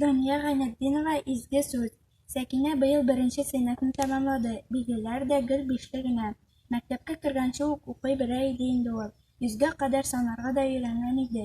Дания Гайнетдинова изге сүз. Сәкинә быел беренче сыйныфны тәмамлады. Билгеләр дә гел бишле генә. Мәктәпкә кергәнче үк укый белә иде инде ул. Йөзгә кадәр санарга да өйрәнгән иде.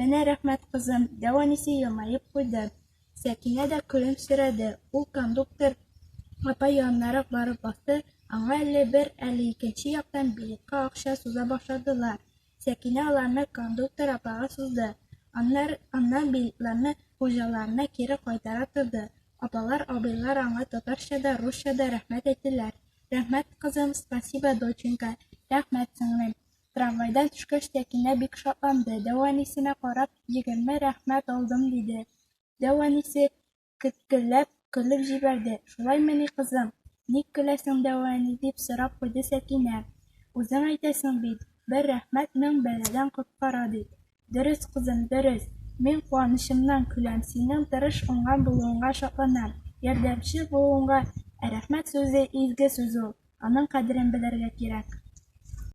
Менә рәхмәт, кызым, дәү әнисе елмаеп куйды. Сәкинә дә көлемсерәде. Ул кондуктор апа янынарак барып басты, аңа әле бер, әле икенче яктан билетка акча суза башладылар. Сәкинә аларны кондуктор апага сузды. Аннар, аннан билетларны хуҗаларына кире кайтара торды. Апалар, абыйлар аңа татарча да, русча да рәхмәт әйттеләр. Рәхмәт, кызым, спасибо, доченька, рәхмәт, сеңлем. Трамвайдан төшкәч, Тәкинә бик шатланды. Дәү әнисенә карап, егерме рәхмәт алдым, диде. Дәү әнисе кеткелләп көлеп җибәрде. Шулаймыни, кызым? Ник көләсең, дәү әни? дип сорап куйды Сәкинә. Үзең әйтәсең бит, бер рәхмәт мең бәладән коткара дип. Дөрес, кызым, дөрес. Мин куанычымнан көләм, синең тырыш, уңган булуыңа шатланам, ярдәмчел булуыңа. Ә рәхмәт сүзе, изге сүз ул. Аның кадерен белергә кирәк.